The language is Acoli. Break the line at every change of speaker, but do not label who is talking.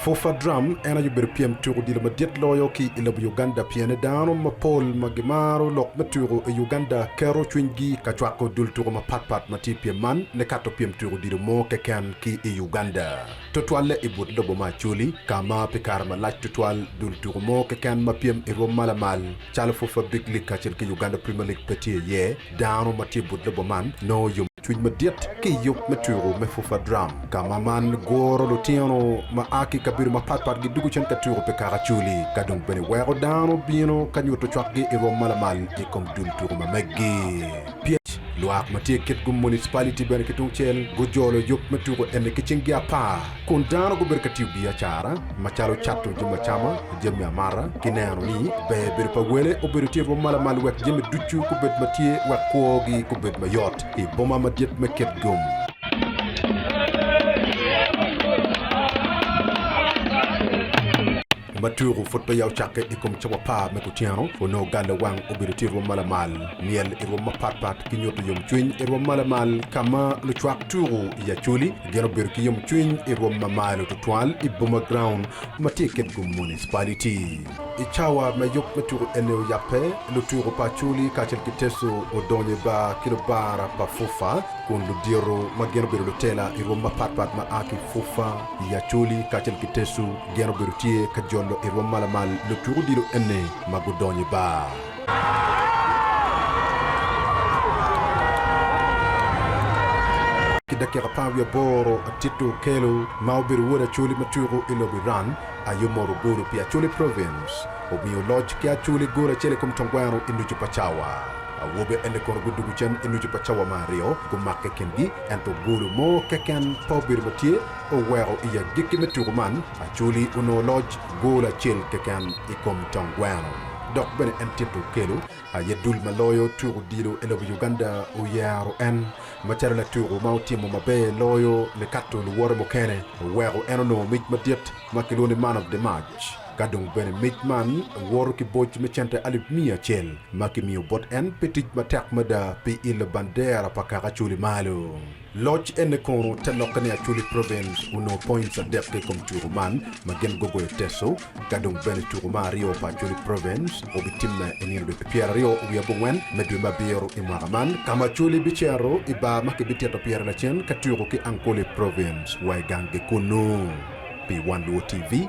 Fufa Drum en aye obedo pyem tuk odilo madit loyo ki i lobo Uganda pien dano mapol ma gimaro lok me tuko i Uganda keto cwinygi ka cwako dul tuko mapatpat ma tye i pyem man nikato pyem tuk odilo mo keken ki i Uganda, tutwalle i but lobo me Acholi ka ma pi kare malac tutwal dul tuko mo keken ma pyem i rwom ma lamal calo Fufa Big League kacel ki Uganda Premier League pe tye iye. Dano ma tye i but lobo man nongo yom. Cwic madit ki i yub me tuku me Fufa Drum. Ka ma man guro lutino ma a ki i kabedo mapat pat gidugo cen ka tuku pi kaka acoli, ka dong bene weko dano bino ka nyuto cwakgi i rwom ma lamal i kom dul tuku ma meggi. Pyec, Lwak ma tye kit gu municipality bene ki tungcel gujolo yub me tuku eni ki cinggi apar. Kun dano gubedo ka tiyo biacara macalo cato jami acama, jami amata, ki neno ni ber bedo pa wele obedo tye bot malamal wek jami ducu gubed ma tye wek kwogi gubed mayot i boma madit me Cape Gum. Ma tuku pud peya ocakke i kom cawa par me kuceno, onongo galo wang obedo tye i rwom ma lamal, myel i rwom mapat pat ki nyuto yomcwiny i rwom ma lamal ka ma lucwak tuku i Acholi gin obedo ki yomcwiny i rwom ma malo tutwal i Boma Ground ma tye i Kitgum Municipality. I cawa me yub me tuku eni oyabbe, lutuku pa Acholi kacel ki Teso odonyo i bar ki lubara pa FUFA kun ludito ma gin obedo lutela i rwom mapat pat ma a ki FUFA, I Acholi kacel ki Tecu, gen obedo tye ka jolo i rwom malamal lutuk odilo eni ma gudonyo i bar. Ki dakika apar wiye aboro, Atito Okello ma obedo wod Acholi ma tuko i lobo Iran aye omoro golo pi Acholi Province, omiyo oloc ki Acholi gol acel i kom tongweno i nucu pa cawa. Awobe eni kono gudugo cen i nucu pa cawa ma aryo, gumakke i kingi. Ento golo mo keken pa obedo ma tye oweko i agikki me tuku man, Acholi onongo loc gol acel keken i kom tong gweno. Dok bene en tito okelo aye dul ma loyo tuku odilo e lobo Uganda oyero en macalo latuku ma otimo maber loyo nikato luwote mukene oweko en onongo mic madit ma kilwongo ni Man of the Match. Ka dong bene mic man woro ki boc me cente alip miya acel ma kimiyo bot en pi tic matek mada pi ilo bandera pa kaka Acholi malo. Loc ene kono te lokke ni Acholi Province onongo points adek ki i kom tuku man ma gin gugoyo Teso. Ka dong bene tuku ma aryo pa Acholi Province obitimme i nino dwe pi pyera aryo wiye abongwen me dwe me abiro i mwaka man ka ma Acholi bicito i bar ma kibitito pire lacen ka tuku ki Ankole Province wa i gang-gi kunu. Pi Wan Luo TV.